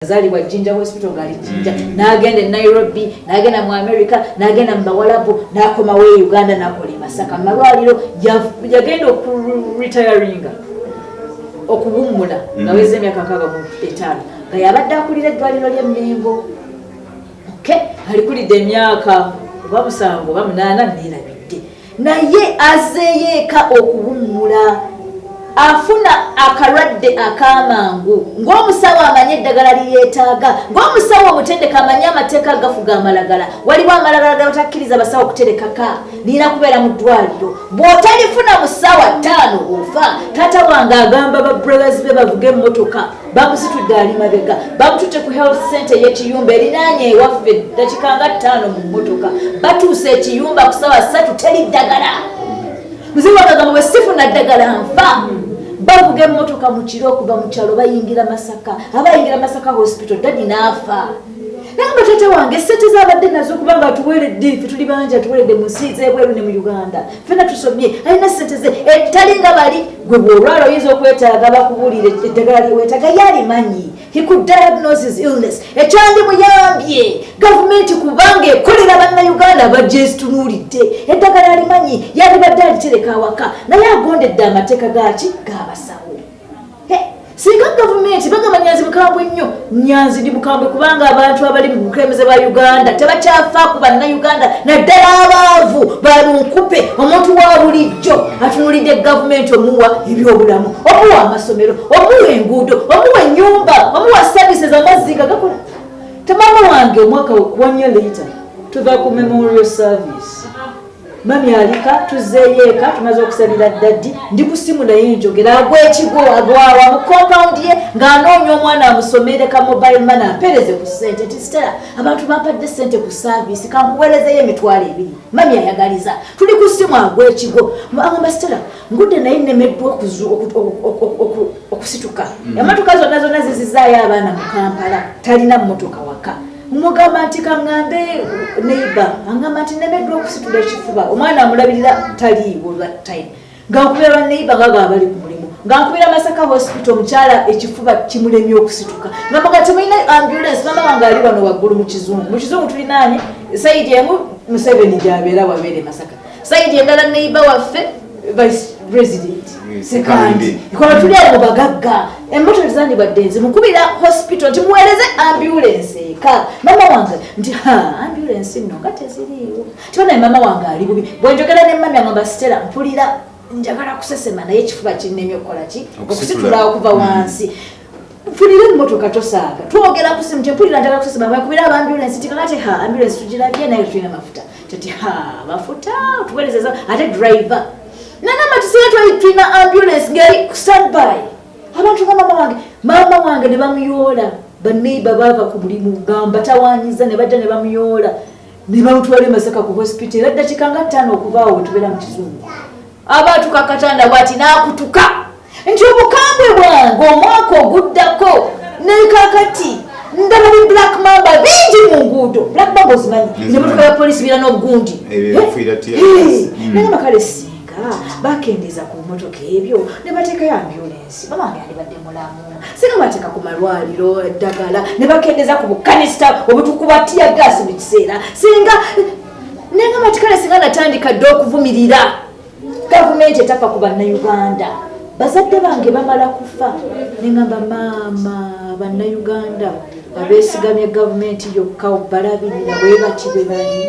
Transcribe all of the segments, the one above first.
azalibwa jinja hospital ngali jinja mm. nagenda e nairobi nagenda mu america nagenda mu bawalabu nakomawo e uganda nakola emasaka mumalwaliro yagenda okuretiringa okuwummula mm. naweza emyaka nkaga mu etaano nga yabadde akulira eddwaliro ly'e Mmengo okay alikulidde emyaka oba musango oba munaana neerabidde naye azeeyo eka okuwummula afuna akalwadde ak'amangu ng'omusawo amanyi eddagala liyeetaaga ng'omusawo omutendeka amanyi amateeka agafuga amalagala waliwo amalagala gabatakkiriza abasawo okuterekaka nina kubeera mu ddwaliro bw'otalifuna mu ssaawa ttaano ofa taata wange agamba ba brothers be bavuga emmotoka bamusitudde ali mabega bamututte ku health center yekiyumba erinaanye ewaffe dakika nga ttaano mu mmotoka batuuse ekiyumba ku sawa satu teri ddagala muziwagagamba bwe sifuna ddagala nfa bavuga emmotoka mu kiro okuva mu kyalo bayingira masaka abayingira masaka hospital dadi naafa naye batata wange sente zabadde nazo kubanga atuweredde fe tuli bangi atuweredde mu nsi zebweru ne mu uganda fena tusomye alina sente ze etali eh, nga bali gwe bwolwala oyinza okwetaaga bakubuulira eddagala lyewetaaga yalimanyi he could diagnose his illness ekyandimuyambye gavumenti kubanga ekolera bannayuganda abagyezitunulidde eddagala alimanyi yalibadde alitereka awaka naye agondedde amateeka gaki gabasawo singa gavumenti bagamba nyanzi bukambwe nnyo nyanzi ndi bukambwe kubanga abantu abali mu bukulembeze bwa uganda tebakyafa ku bannauganda naddala abaavu balunkupe omuntu wa bulijjo atunulidde gavumenti omuwa ebyobulamu omuwa amasomero omuwa enguudo omuwa enyumba omuwa service zamazzi nga gakola tamama wange omwaka wanyo leeta tuva ku memorial service mami alika tuzzeeyo eka tumaze okusalira ddaddi ndi ku simu naye njogera agwekigo agwawa mu kompawundi ye ng'anoonya omwana amusomereka mobile mana ampereze ku ssente nti sitera abantu bampadde ssente ku saaviisi kankuweerezeyo emitwalo ebiri mami ayagaliza tuli ku simu agwekigo agamba sitera ngudde naye nnemeddwa okusituka mm. emotoka zonna zonna zizizaayo abaana mu kampala talina mmotoka waka mugamba nti kaŋŋambe neiba aŋŋamba nti nemeddwa okusitula ekifuba omwana amulabirira taliiwo that time nga nkubira baneiba nga ga bali ku mulimu nga nkubira masaka hospital omukyala ekifuba kimulemye okusituka nga muga temulina ambulance mama wange ali wano waggulu mu kizungu mu kizungu tulinaanye sayidi emu museveni gyabeera wabeere masaka sayidi endala neiba waffe vice president sekandi ikola tuli abo bagagga emmotoka tezandibadde nze mukubira hospital nti muweereze ambulance eka mama wange nti ha ambulance nno nga teziriiwo tibanaye mama wange ali bubi bwenjogera ne mami angamba sitera mpulira njagala kusesema naye ekifuba kinnemye okukola ki okusitula okuva wansi mm. funira emmotoka tosaaga twogera ku simu tempulira njagala kusasima bakubira aba ambulensi ti kakati ha ambulensi tugirabye naye tulina mafuta tati ha mafuta otuwerezeza ate driver nanama tusiga tulina ambulensi ngeri standby abantu nga mama wange mama wange ne bamuyoola baneiba baava ku mulimu ngambatawanyiza ne bajja ne bamuyoola ne bamutwala emasaka ku hospital era ddakiika nga ttaano okubaawo wetubeera mu kizungu abaatuka katanda bwati n'akutuka nti obukambwe bwange omwaka oguddako nekakati ndaba bi black mamba bingi mu nguudo black mamba ozimanyi nemotoka ya polisi bira n'obugundi nagamba kale singa bakendeeza ku motoka ebyo ne bateekayo ambulensi bamange alibadde mulamu singa bateeka ku malwaliro eddagala ne bakendeeza ku bukanisa obutukuba tiya gaasi mu kiseera singa nengamba ti kale singa natandika dde okuvumirira gavumenti etafa ku bannayuganda bazadde bange bamala kufa nengamba maama bannayuganda abesigamye gavumenti yokka balabirira bwebati bwebanyi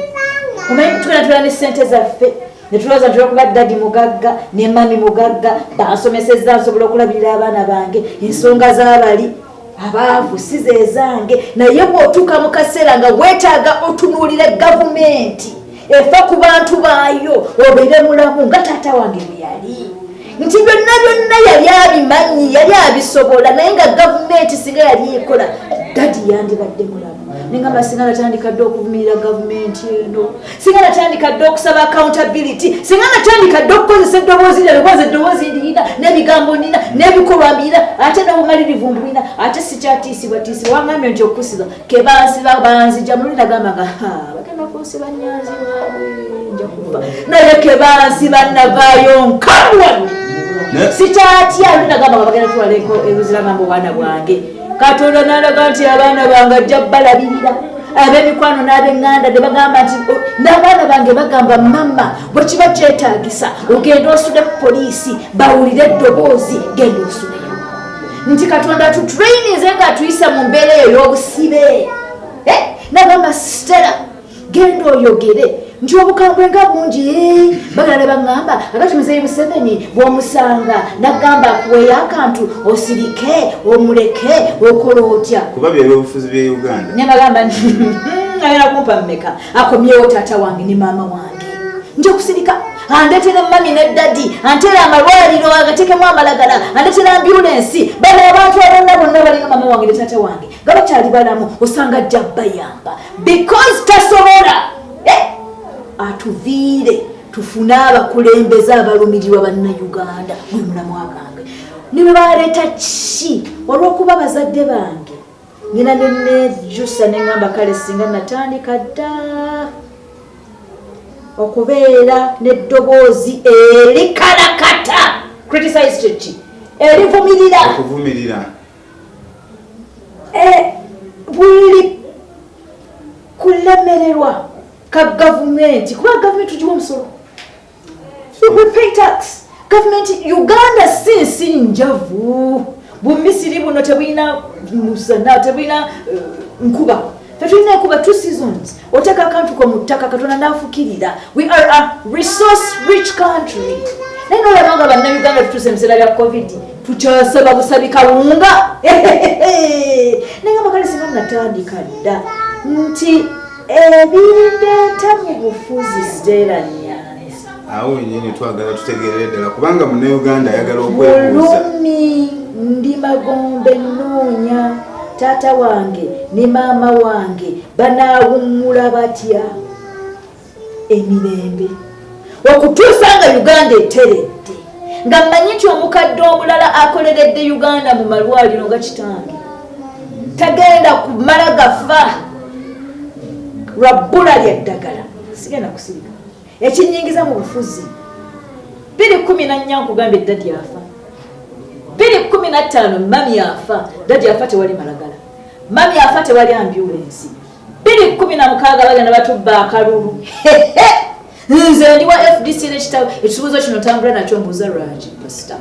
omanyi tukanatula ne sente zaffe netulowooza nti olwokuba dadi mugagga ne mami mugagga bansomesezza nsobola okulabirira abaana bange ensonga zabali abaavu si zezange naye bw'otuuka mu kaseera nga weetaaga otunuulira gavumenti efa ku bantu baayo obeere mulamu nga taata wange bwe yali nti byonna byonna yali abimanyi yali abisobola naye nga gavumenti singa yali ekola dadi yandibadde mulamu naye nga masinga natandika dde okuvumirira gavumenti eno singa natandika dde okusaba accountability singa natandika dde okukozesa eddoboozi lya lwobaza eddoboozi ndiyina n'ebigambo nina n'ebikolwa mbiyina ate n'obumalirivu mbuyina ate sikyatiisibwatiisibwa wangambye nti okusiba kebansiba banzija mulina gamba nga bagenda kunsiba nyanzi waabwe nja kufa naye kebansiba navaayo nkamwani sikyatya lulina gamba nga bagenda tulala eruziramambo obwana bwange katonda nalaga nti abaana bange ajja balabirira abemikwano n'abenganda ne bagamba nti oh, n'abaana bange bagamba mama bwekiba kyetagisa ogenda osude ku poliisi bawulire eddoboozi genda osudeyo nti katonda tutrainize nga atuyisa mu mbeera eyo y'obusibe eh, nagamba stela genda oyogere nti obukambwe nga bungi bagala ne baŋŋamba agati muzeeyi museveni bw'omusanga nagamba akuweeyo akantu osirike omuleke okola otya kuba byebyobufuzi bya uganda ne bagamba nti hmm, ayala kumpa mmeka akomyewo taata wange ne maama wange nja okusirika andetera mami ne dadi antera amalwaliro agatekemu amalagala andetera ambulensi bano abantu abonna bonna balinga mama wange ne taata wange nga bakyali balamu osanga ajja bayamba because tasobola eh? atuviire tufune abakulembeze abalumirirwa bannauganda gwe mulamu agambe ne bwe baleeta ki olw'okuba bazadde bange nyina nenejusa neŋamba kale singa natandika dda okubeera n'eddoboozi erikalakata criticised ki erivumirira eh, buli kulemererwa ka gavumenti kuba gavumenti tugiwa omusolo we pay tax gavumenti uganda si nsi njavu bumisiri buno tebulina musana tebulina eh, nkuba tetulina nkuba two seasons oteeka akantu ko mu ttaka katonda n'afukirira we are a resource rich country naye nolaba nga bannayuganda tutuuse ebiseera bya covid tukyasaba busabi kawunga naye amakale singa natandika dda nti ebireeta mu bufuzi ziteeranya awo wenyini twagala tutegerere ddala kubanga munauganda ayagala okwebuuza ndi magombe nnoonya taata wange ne maama wange banaawummula batya emirembe okutuusa nga uganda eteredde nga mmanyi nti omukadde omulala akoleredde uganda mu malwaliro nga kitange tagenda kumala gafa lwa bbula lya ddagala sigenda kusirika ekinyingiza mu bufuzi biri kumi na nnya nkugambye dadi afa biri kumi na ttaano mami afa dadi afa tewali malagala mami afa tewali ambyulensi biri kumi na mukaaga bagenda batubba akalulu nze ndi wa fdc nekitabo ekibuuzo kino tambula nakyo mbuuza lwaki pasita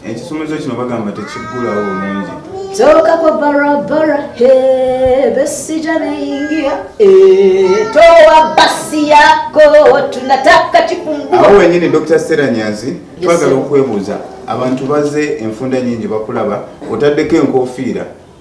Ekisomesa kino bagamba tekiggulawo bulungi. Toka kwa barabara he besija naingia e, toa basi yako tunataka kifungua. Awo wenyini Dr. Sera Nyanzi twagala okwebuuza abantu baze enfunda nyingi bakulaba otaddeko enkofiira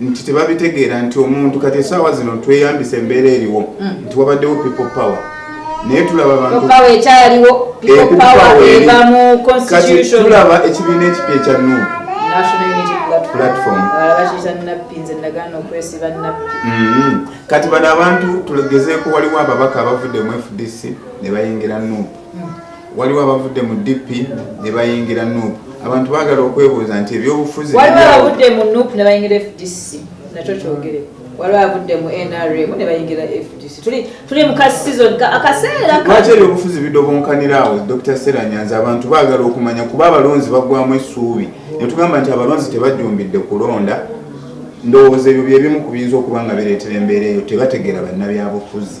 nti tebabitegeera nti omuntu kati esaawa zino tweyambisa embeera eriwo mm. nti wabaddewo people power naye tulaba bantukati eh, tulaba ekibiina ekipya ekya nup mm-hmm. kati bano abantu tulegezeeko waliwo ababaka abavudde mu fdc ne bayingira nup waliwo abavudde mu DP ne bayingira nup abantu bagala okwebuuza nti ebyobufuzi waliwo abavudde mu nup ne bayingira fdc nakyo kyogere waliwo abavudde mu nrm ne bayingira fdc tuli mu ka season akaseera lwaki ebyobufuzi bidobonkanira awo dr sera nyanza abantu bagala okumanya kuba abalonzi bagwamu essuubi netugamba nti abalonzi tebajjumbidde kulonda ndowooza ebyo byebimu ku biyinza okuba nga bireetera embeera eyo tebategeera bannabyabufuzi